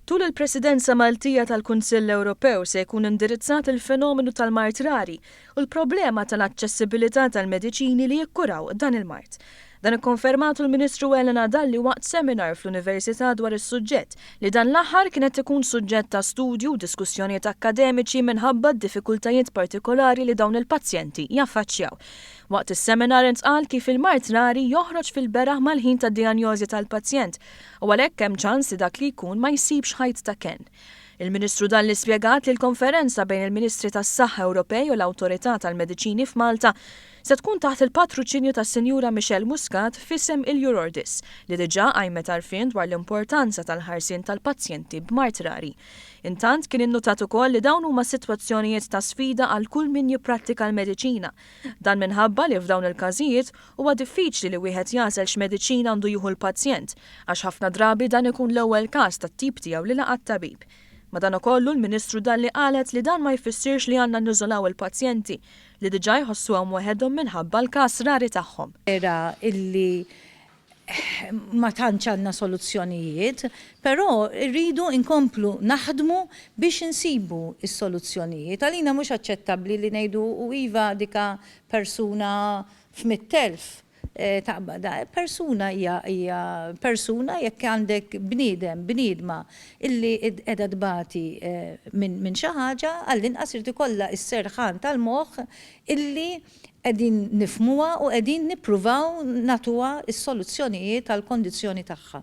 Tul il-Presidenza Maltija tal-Kunsill Ewropew se jkun indirizzat il-fenomenu tal-mard rari u l-problema tal-aċċessibilità tal-mediċini li jikkuraw dan il-mard. Dan ikkonfermatu l-Ministru Elena Dalli waqt seminar fl-Università dwar is-suġġett, li dan l-aħħar kien qed ikun suġġett ta' studju u diskussjonijiet akkademiċi minħabba d-diffikultajiet partikolari li dawn il-pazjenti jaffaċċjaw. Waqt is-seminar intqal kif il-mard rari joħroġ fil-beraħ mal-ħin tad-dijanjożi tal-pazjent u għalhekk hemm ċans li dak li jkun ma jsibx ħajt ta' kenn. Il-Ministru Dalli spjegat li l-konferenza bejn il-Ministri tas-Saħħa Ewropej u l-Awtorità tal-Mediċini f'Malta se tkun taħt il-patruċinju tas-Sinjura Michelle Muscat f'isem il-Eurordis li diġà qajmet għarfien dwar l-importanza tal-ħarsien tal-pazjenti b'mard rari. Intant kien innutat ukoll li dawn huma sitwazzjonijiet ta' sfida għal kull min jipprattika l-mediċina Dan minħabba li f'dawn il-każijiet huwa diffiċli li wieħed jagħżel x'mediċina għandu jieħu l-pazjent għax ħafna drabi dan ikun l-ewwel każ tat-tip tiegħu li laqa' t-tabib. Madankollu l-Ministru Dalli qalet li dan ma jfissirx li għandna niżolaw il-pazjenti li diġà jħossuhom weħedhom minħabba l-każ rari tagħhom. Vera illi ma tantx għandna soluzzjonijiet, però rridu nkomplu naħdmu biex insibu s-soluzzjonijiet. Għalina mhux aċċettabbli li ngħidu u iva dika persuna f'mitt elf taqbad. Persuna hija hija persuna jekk għandek bniedem, bniedma illi qiegħda tbati minn xi ħaġa għallinqas irid ikollha s-serħan tal-moħħ illi qegħdin nifhmuha u qegħdin nippruvaw nagħtuha s-soluzzjonijiet għall-kondizzjoni tagħha.